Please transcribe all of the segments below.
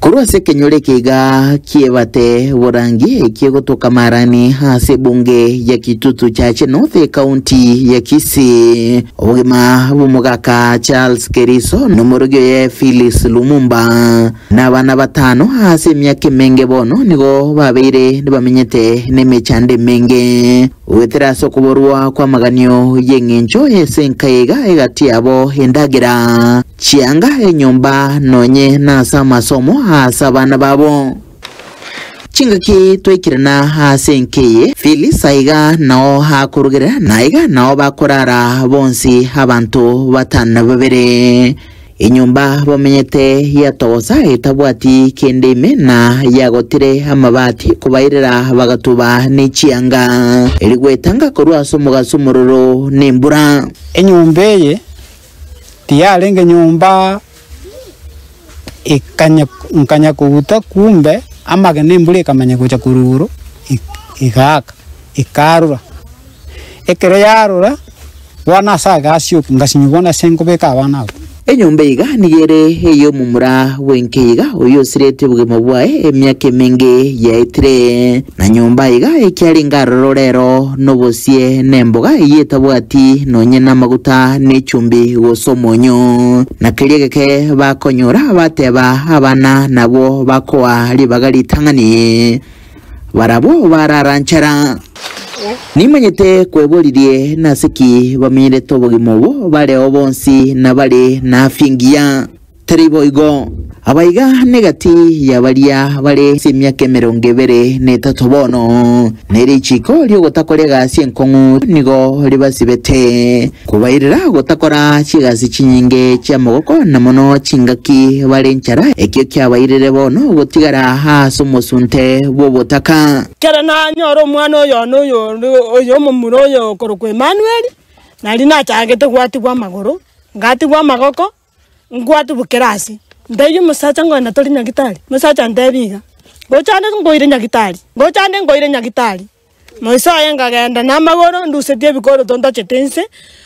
Korwa ase ekenyoro eke iga ki'ebate borangi ekiegotoka Marani ase ebunge ya Kitutu Chache North ekaunti ya Kisii, obogima bw'omogaka Charles Keriso na omorogi oye Phyllis Lumumba na abana batano ase emiaka emenge bono nigo babeire nibamenyete nemechando emenge. Goetera ase okoborwa kw'amaganio y'eng'encho y'ense enka iga egati yabo endagera chianga enyomba nonye nase amasomo ase abana babo. Chingaki twaikirana ase enka eye, Phyllis aiga nao akorugera, naiga nao bakorara bonsi abanto batano na babere. Enyomba bamenyete yatogosa etabwati kende ime na yagotire amabati kobairera bagatuba ne chianga eri gwetanga korwa ase omogaso omororo nembura. Enyomba eye tiyarenge nyomba ekanya nkanya koguta kumbe amagena embura ekamanya gocha korwa igoro ekaaka ekarura. Ekero yarura. Bono ase agasi oko ngasinywa bono ase nkobeka abana aba. Enyomba iga nigo ere ey'omomura bw'enkeiga oyio osiretwe obogima bwaye emiaka emenge yaetire, na nyomba iga ekiarenge aroro rero nobosie nemboga eyio etabwati nonye namaguta ne chumbi gose omonyo. Na keria geke bakonyora bateba abana nabwo bakoa ribaga ritang'ani. barabwo bararanchera. Nimanyete kweboririe nase ki bamenyerete obogima obo bareo bonsi na bare na afya engiya. Tari boigo. Aba iga negati ya baria bare ase emiaka emerongo ebere na etato bono, ne richiiko ri'ogotakoria egasi enkong'u nigo ribasibete. Kobairera gotakora chigasi chinyinge chi'amogoko na mono chingaki bare nchara, ekio kiabairire bono gotigara aase omosunte bw'obotaka. Ekero nanyora omwana oyono oyonde oyo omomura oyo okorokwa Emanueli, nari nachagete gwatigwa amagoro, ngatigwa amagoko. Ngwatubukera ase, ntebia omosacha ngogenda tore nyagetari, omosacha antebia iga, ngocha ande nkoire nyagetari, ngocha ande nkoire nyagetari. Moisa oye nkagenda na amagoro ndusetie ebikoroto ntachete inse,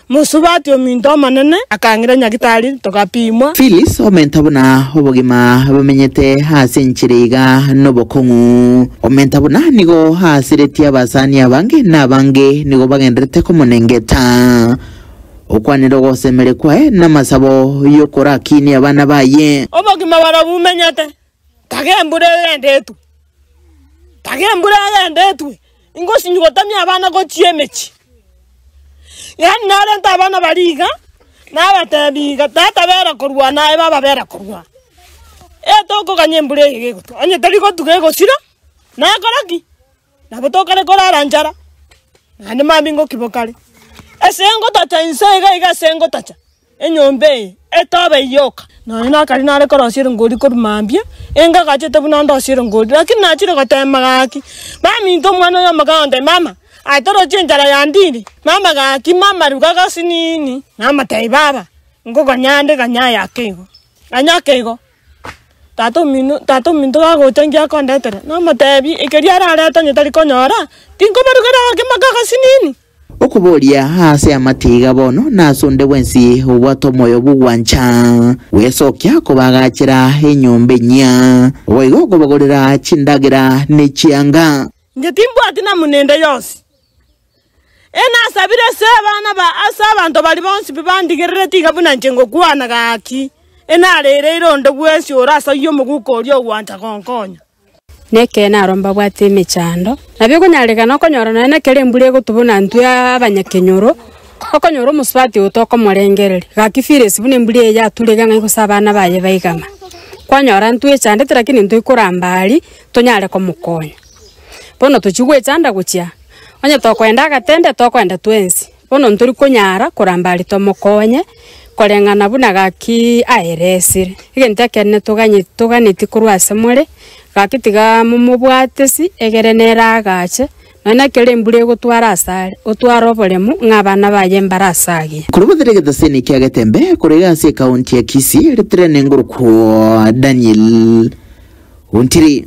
mosubati ominto omonene akang'ira nyagetari togapimwa. Phyllis, omenta buna obogima bomenyete ase enchera iga nobokong'u. Omenta buna nigo aasiretie abasani abange, na abange nigo bagendererete komonengeta. Okwanera ogosemeria kwaye namasabo y'okorakiinia abana baye. Obogima bwabo bumenyete, taga embura egende etwe, taga embura egende etwe, ingosinywa gotamia abana gochia emechie. Yaani narente abana baria iga, nabatebi iga, tata bera korwa naye, baba bera korwa naye, etogokanya embura eye gegotuga, onye teri gotuga egosira, nakora ki? Nabo tokare korara nchara, naende mambia ngokiba okare. Esengo tacha inse iga iga esengo tacha, enyomba eye etobe yoka. Nonya nakare nare korosia erongori korwa mambia, enga agachete buna ndosie erongori, lakini nachire gotema gaki, baminto omwana oyo omokana gontebia, mama, aye torochie enchara yandiri, mama gaki, mama ruga gasi nini, namotebia, baba, ngoganyande ganya aya ake igo, ganya ake igo. Tata omino tata ominto gagocha inche akondetera, namotebi, ekeria ararete onye tari konyora, tinkobarugera gaki mpaka agasinini. Okoboria aase amatiga bono nase onde bwensi obwate omoyo bw'ogwancha gwesokia kobaagachera enyomba enyia, ogoiga okobagorera chindagera ne chianga. Inche timbwati namuna ende yonsi, Enasabire ase abana ba ase abanto baria bonsi bandigerere tiga buna inche ngokwana gaki, enaraireire onde bwensi ore ase oyio omoguko oria ogwancha gonkonya. Nekeene aro mbabwate emechando, nabo ekonyarekana okonyora nonya nekero embura egotwa buna intwe abanyakenyoro, okonyora omosubati oyo tokomorengereria, gaki feeless buna embura eye yaturege ng'ai gose abana baye baigama. Kwanyora intwe echandete lakini intwe ikoramba aria, tonyare komokonya. Bono tochia gwechanda gochia, onye tokoenda agatende, tokoenda twensi. Bono ntori konyara koramba are tomokonye, koreng'ana buna gaki aeresire. Egento ekenene toganye toganetie korwa ase more, gaki tiga momobwate isi, egere nere agache, nonya na ekero embura egotwara ase are, otware oboremu ng'a abana baye mbare ase agiya. Korwa botere egetosini kia Getembe korenge ase ekaunti ya Kisii, Retirene ngoroku Daniel Ontiri.